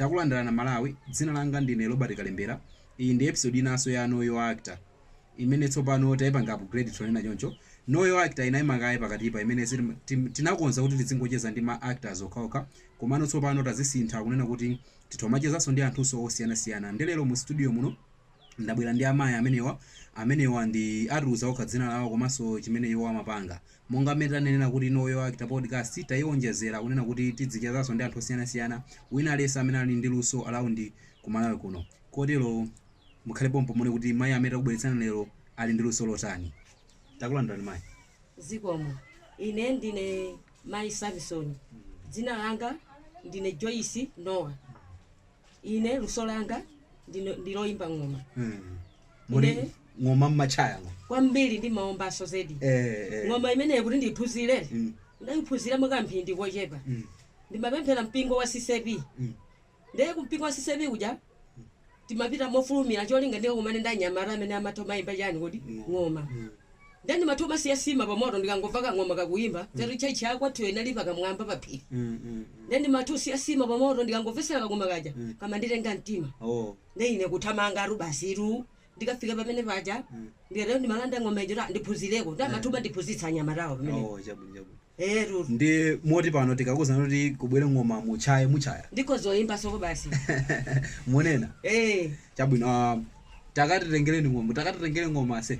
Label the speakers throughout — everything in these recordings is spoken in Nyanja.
Speaker 1: Takulandirana Malawi, dzina langa ndine Robert Kalembera, iyi ndi episode inanso ya Know Your Actor imene tsopano taipanga upgrade tonena choncho Know Your Actor inaima kaye pakatipa imene tinakonza kuti tidzingocheza ndi ma actors okhaokha komano tsopano tazisintha kunena kuti titha kumachezanso ndi anthunso osiyanasiyana nde lero mu studio muno Ndabwera ndi amayi amenewa. Amenewa ndi atiuza okha dzina lawo komanso chimene iwo amapanga. Monga mmene tanenera kuti Know Your Actor podcast taionjezera kunena kuti tidzichezanso ndi anthu osiyanasiyana wina aliyense amene ali ndi luso around ku Malawi kuno. Kotero mukhale pompo muone kuti mayi amene takubweretserani lero ali ndi luso lotani. Takulandirani mayi.
Speaker 2: Zikomo. Ine ndine mayi Samisoni. Dzina langa ndine Joyce Nowa. ine luso langa ndino- ndi loyimba ng'oma
Speaker 1: muli Ine- ng'oma mmachaya ngo kwambiri ndimaombanso
Speaker 2: zedi Eh, eh. ng'oma imeneyi kuti ndiyiphunzire Mm. ndayiphunzira mwakamphindi kochepa Mm. ndimapemphera mpingo wa CCAP Mm. ndiye kumpingo wa CCAP kuja ndimapita mofulumira cholinga ndikakumane ndi anyamata amene amatha kumayimba chani kodi ng'oma Ndiye ndimatha kumasiya sima pamoto ndikangomva kang'oma kakuyimba choti church ya kwathuyo inali pakamwamba pa phiri ndiye ndimatha kusiya sima pamoto ndikangomvetsera kang'oma kaja kamanditenga mtima ndiye ine kuthamanga tu basitu ndikafika pamene paja ndikatero ndimalanda ng'oma ija kuti ndiphunzireko nde amatha kumandiphunzitsa anyamatawa pamene
Speaker 1: ee tu
Speaker 2: ndi
Speaker 1: moti pano tikakuuza kuti kubwere ng'oma muchaye muchaya ndikhoza kuyimba soko
Speaker 2: basi munena
Speaker 1: ee chabwino
Speaker 2: ah, takatitengereni
Speaker 1: ng'oma takatitengere ng'oma ase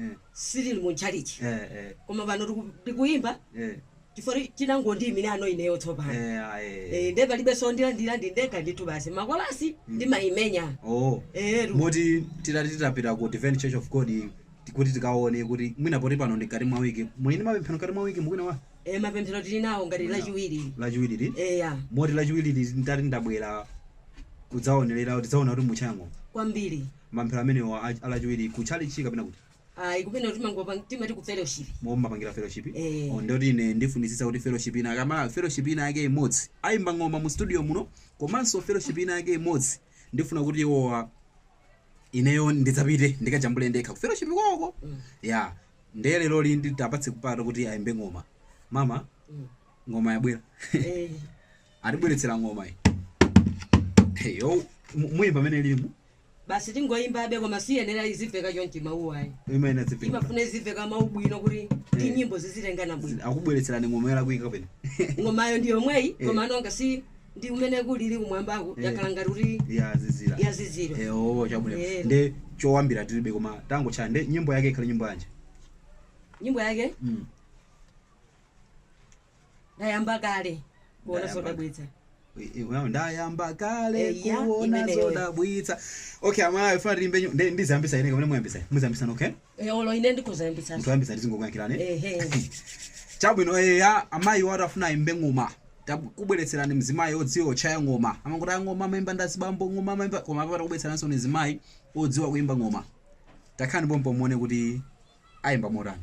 Speaker 2: eh, sitili mu tchalichi eh, eh, koma pano tiku- tikuyimba eh, chifukwa tinangondiyimira ano ineyo tsopano eh, ah, eh. Eh, nde palibenso ndilandira ndi ndekha ndithu basi makolasi ndimayimenya Oh. Eh, lu- moti titati titapita ku divine church of god ti- kuti tikaone kuti mwina poti pano ndi mkati mwa wiki muli ndi mapemphero mkati mwa wiki mukwina wa eh, mapemphero tili nawo ngati lachiwiri lachiwiriri eya moti
Speaker 1: lachiwiriri ndati ndabwera kudzaonerera kuti ndidzaone kuti muchango kwambiri
Speaker 2: mapemphero amenewo
Speaker 1: a, a lachiwiri ku chalichi kapena kuti ayi kumene kuti
Speaker 2: mangopanga timati ku fellowship momwe mumapangira
Speaker 1: fellowship Eh. oh, ndoti ine ndifunitsitsa kuti fellowship ina akamala fellowship ina yake imodzi ayimba ng'oma mu studio muno komanso fellowship ina yake imodzi ndifuna kuti iwowa ineyo ndidzapite ndikajambule ndekha ku fellowship kwawoko ya ndiye leroli ndiwapatse mpata kuti ayimbe ng'oma mama Mm. ng'oma yabwera Eh, atibweretsera ng'oma iyi Hey, yo, mu- muyimba mmene ilirimu basi
Speaker 2: tingoyimbabe koma siyenera izimveka chonchi mawuwa ayi Imayenera izimveka.
Speaker 1: imafuna izimveka
Speaker 2: mawu bwino kuti ndi Eh. nyimbo zizitengana bwino Akubweretserani ng'oma yolakwika
Speaker 1: kapena. ng'omayo ndi yomweyi
Speaker 2: Eh. komano ngati ndi mmene kulili kumwambako Eh. yakhala ngati kuti Yazizira. yazizira Eh oh chabwino.
Speaker 1: Eh. Nde chowambira tilibe koma tangochaya nde nyimbo yake ikhale nyimbo yanji. nyimbo
Speaker 2: yake Mm. ndayamba kale kuona Ndayamba. zodabwitsa
Speaker 1: Well, ndayamba kale Eh, ya, kuona imeneyo. zodabwitsa okay amayi afuna tilimbe nyu- ndi- ndiziyambisa ine kamene muyambisa muziyambisana okay Eh, olo ine ndikuzayambisa
Speaker 2: munthu wayambisa tizingokuyankhirani
Speaker 1: ehe chabwino eya amayiwatu afuna ayimbe ng'oma Tabu- kubweretserani mzimayi odziwa kutchaya ng'oma amangoti ng'oma amayimba ndi azibambo ng'oma amayimba koma apapa takubweretseraninso mzimayi odziwa kuyimba ng'oma takhani pompo muone kuti ayimba motani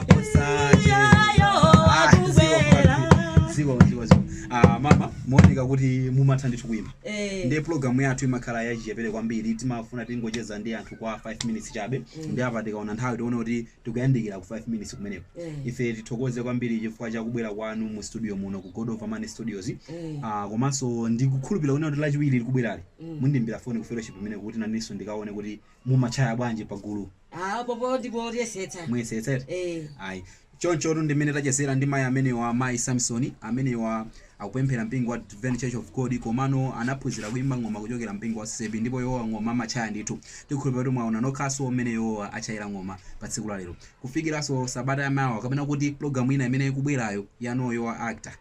Speaker 1: mumaoneka kuti mumatha ndithu kuimba eh. ndi pulogalamu yathu imakhala yachichepere kwambiri timafuna tingocheza ndi anthu kwa 5 minutes chabe eh. ndi apa tikaona nthawi tiona kuti tikuyandikira ku 5 minutes kumeneko eh. ife tithokoze kwambiri chifukwa cha kubwera kwanu mu studio muno ku god of amani studios ah, komanso ndikukhulupirira kuti kuti lachiwiri likubwerali mm. mundimbira foni ku fellowship imeneko kuti nanenso ndikaone kuti mumatchaya bwanji pagulu Ah, popo
Speaker 2: ndipo tiyesetsa. muyesetsa eti
Speaker 1: Eh. ayi chonchotu ndi mmene tachezera ndi mayi amenewa mayi samson amenewa akupemphera mpingo wa Advent church of god komano anaphunzira kuimba ng'oma kuchokera mpingo wa CCB ndipo iwowa ng'oma amatchaya ndithu tikhulupirira kuti mwaona nokhanso mmene iwowa atchayira ng'oma pa tsiku la lero kufikiranso sabata yamawa kapena kuti pulogalamu ina imene ikubwerayo ya know your actor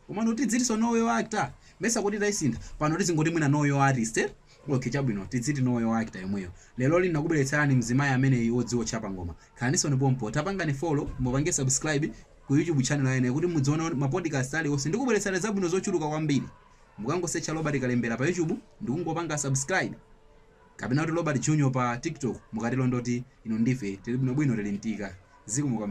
Speaker 1: Komano tidzitinso know your actor? Mesa kuti taisintha? Pano tizingoti mwina know your artist eti? Ok chabwino tidziti know your actor yomweyo. Leroli ndinakubweletserani mzimayi ameneyi odziwa kutchaya ng'oma. Khalaninso ni pompo. Tapangani follow, mupange subscribe Ku YouTube channel ya ine kuti mudziona ma podcast alionse. Ndikubweletserani zabwino zochuluka kwambiri. Mukangosearcha Robert Kalembera pa YouTube nkungopanga subscribe. Kapena kuti Robert Junior pa TikTok mukatelo ndekuti inu ndi ife tili bwinobwino tili mtika. Zikomo kwambiri.